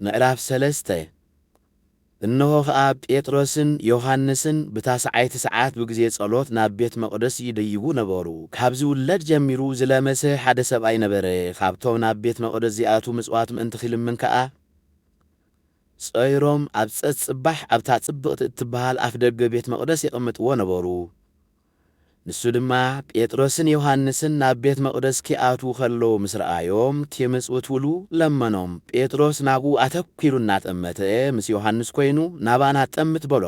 ምዕራፍ ሰለስተ፣ እነሆ ኸኣ ጴጥሮስን ዮሃንስን ብታስዓይቲ ሰዓት ብግዜ ጸሎት ናብ ቤት መቕደስ ይደይቡ ነበሩ። ካብ ዝውለድ ጀሚሩ ዝለመሰ ሓደ ሰብኣይ ነበረ፣ ኻብቶም ናብ ቤት መቕደስ ዚኣትዉ ምጽዋት ምእንቲ ኺልምን ከኣ፣ ጸይሮም ኣብ ጸጽባሕ ኣብታ ጽብቕቲ እትበሃል ኣፍ ደገ ቤት መቕደስ የቐምጥዎ ነበሩ። ንሱ ድማ ጴጥሮስን ዮሃንስን ናብ ቤት መቕደስ ኪኣትዉ ኸለዉ ምስ ረኣዮም፣ ኪምጽውትዉሉ ለመኖም። ጴጥሮስ ናብኡ ኣተኲሩ እናጠመተ ምስ ዮሃንስ ኰይኑ፣ ናባና ትጠምት በሎ።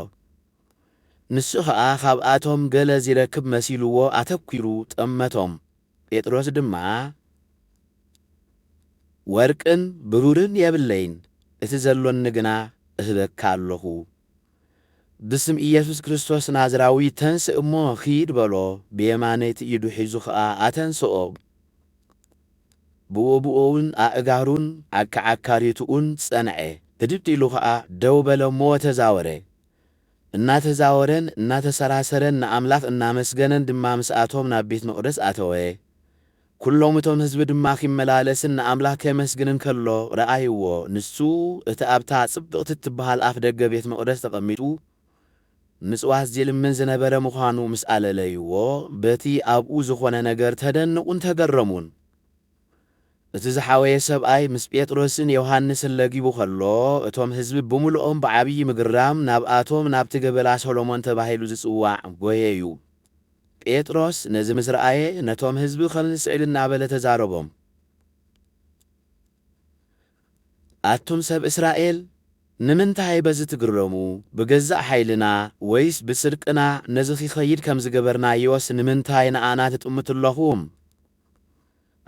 ንሱ ኸኣ ኻብኣቶም ገለ ዚረክብ መሲልዎ ኣተኲሩ ጠመቶም። ጴጥሮስ ድማ፣ ወርቅን ብሩርን የብለይን፣ እቲ ዘሎኒ ግና እህበካ ኣሎኹ። ብስም ኢየሱስ ክርስቶስ ናዝራዊ ተንሥእ እሞ ኺድ በሎ፣ ብየማነይቲ ኢዱ ሒዙ ኸኣ ኣተንሥኦ። ብኡብኡውን ኣእጋሩን ኣከዓካሪቱኡን ጸንዔ፣ ህድድ ኢሉ ኸኣ ደው በለ እሞ ተዛወረ። እናተዛወረን እናተሰራሰረን ንኣምላኽ እናመስገነን ድማ ምስኣቶም ናብ ቤት መቕደስ ኣተወ። ኵሎም እቶም ህዝቢ ድማ ኺመላለስን ንኣምላኽ ኬመስግንን ከሎ ረኣይዎ። ንሱ፣ እቲ ኣብታ ጽብቕቲ እትብሃል ኣፍ ደገ ቤት መቕደስ ተቐሚጡ ምጽዋት ዚልምን ዝነበረ ምዃኑ ምስ ኣለለይዎ፣ በቲ ኣብኡ ዝዀነ ነገር ተደነቑን ተገረሙን። እቲ ዝሓወየ ሰብኣይ ምስ ጴጥሮስን ዮሃንስን ለጊቡ ኸሎ፣ እቶም ህዝቢ ብምሉኦም ብዓብዪ ምግራም ናብኣቶም ናብቲ ገበላ ሰሎሞን ተባሂሉ ዚጽዋዕ ጐየዩ። ጴጥሮስ ነዚ ምስ ረኣየ፣ ነቶም ህዝቢ ኸምዚ ስዕብ እናበለ ተዛረቦም፣ ኣቱም ሰብ እስራኤል፣ ንምንታይ በዚ ትግረሙ? ብገዛእ ሓይልና ወይስ ብጽድቅና ነዚ ኺኸይድ ከም ዝገበርናዮስ ንምንታይ ንኣና ትጥምቱ ኣሎኹም?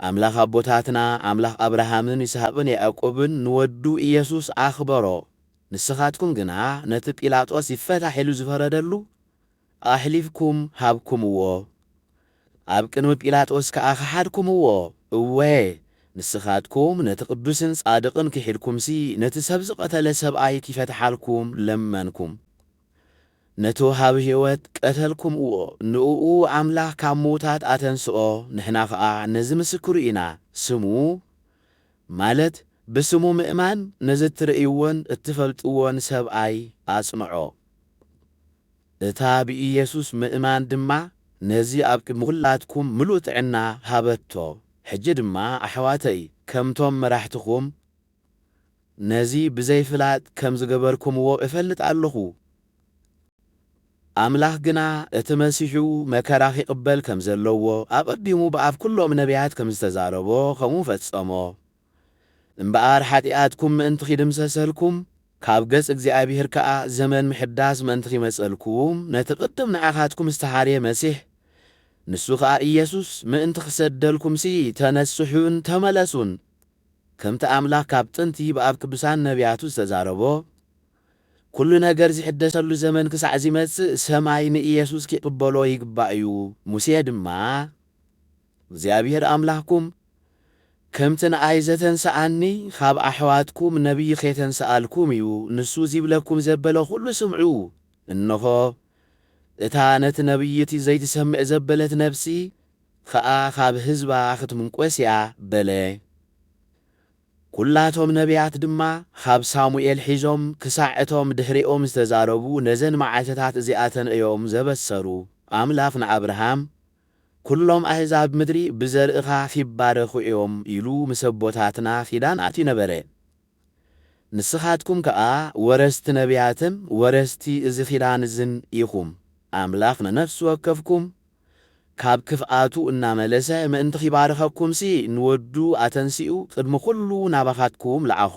ኣምላኽ ኣቦታትና፣ ኣምላኽ ኣብርሃምን ይስሃቅን ያእቆብን ንወዱ ኢየሱስ ኣኽበሮ። ንስኻትኩም ግና ነቲ ጲላጦስ ይፈታሕ ኢሉ ዝፈረደሉ፣ ኣሕሊፍኩም ሃብኩምዎ፣ ኣብ ቅድሚ ጲላጦስ ከኣ ከሓድኩምዎ፣ እወ፣ ንስኻትኩም ነቲ ቅዱስን ጻድቕን ክሒድኩምሲ፣ ነቲ ሰብ ዝቐተለ ሰብኣይ ኪፈትሓልኩም ለመንኩም። ነቲ ወሃቢ ሕይወት ቀተልኩምዎ፣ ንእኡ ኣምላኽ ካብ ምዉታት ኣተንስኦ፣ ንሕና ኸኣ ነዚ ምስክሩ ኢና፣ ስሙ፣ ማለት ብስሙ ምእማን ነዚ እትርእይዎን እትፈልጥዎን ሰብኣይ ኣጽንዖ። እታ ብኢየሱስ ምእማን ድማ ነዚ ኣብ ቅድሚ ዅላትኩም ምሉእ ጥዕና ሃበቶ። ሕጂ ድማ ኣሕዋተይ ከምቶም መራሕትኹም ነዚ ብዘይ ፍላጥ ከም ዝገበርኩምዎ እፈልጥ ኣሎኹ። ኣምላኽ ግና እቲ መሲሑ መከራ ኺቕበል ከም ዘለዎ ኣቐዲሙ ብኣፍ ኵሎም ነብያት ከም ዝተዛረቦ ኸምኡ ፈጸሞ። እምበኣር ሓጢኣትኩም ምእንቲ ኺድምሰሰልኩም፣ ካብ ገጽ እግዚኣብሄር ከኣ ዘመን ምሕዳስ ምእንቲ ኺመጸልኩም፣ ነቲ ቕድም ንዓኻትኩም ዝተሓርየ መሲሕ፣ ንሱ ኸኣ ኢየሱስ፣ ምእንቲ ኺሰደልኩምሲ፣ ተነስሑን ተመለሱን፣ ከምቲ ኣምላኽ ካብ ጥንቲ ብኣብ ቅዱሳን ነብያቱ ዝተዛረቦ፣ ኵሉ ነገር ዚሕደሰሉ ዘመን ክሳዕ ዚመጽእ፣ ሰማይ ንኢየሱስ ኪቕበሎ ይግባእ እዩ፣ ሙሴ ድማ እግዚኣብሄር ኣምላኽኩም፣ ከምቲ ንኣይ ዘተንስኣኒ ኻብ ኣሕዋትኩም ነብዪ ኼተንስኣልኩም እዩ፣ ንሱ ዚብለኩም ዘበለ ዅሉ ስምዑ። እንሆ፣ እታ ነቲ ነብዪ እቲ ዘይትሰምዕ ዘበለት ነፍሲ ኸኣ ኻብ ህዝባ ኽትምንቈስ እያ በለ። ኵላቶም ነብያት ድማ ኻብ ሳሙኤል ሒዞም ክሳዕ እቶም ድሕሪኦም ዝተዛረቡ ነዘን መዓልትታት እዚኣተን እዮም ዘበሰሩ፣ ኣምላኽ ንኣብርሃም፣ ኩሎም ኣህዛብ ምድሪ ብዘርእኻ ኺባረኹ እዮም ኢሉ ምስ ኣቦታትና ኺዳን ኣትዩ ነበረ። ንስኻትኩም ከኣ ወረስቲ ነብያትን ወረስቲ እዚ ኺዳን እዝን ኢኹም። ኣምላኽ ንነፍሲ ወከፍኩም ካብ ክፍኣቱ እናመለሰ ምእንቲ ኺባርኸኩምሲ፣ ንወዱ ኣተንሲኡ ቕድሚ ዅሉ ናባኻትኩም ለኣኾ።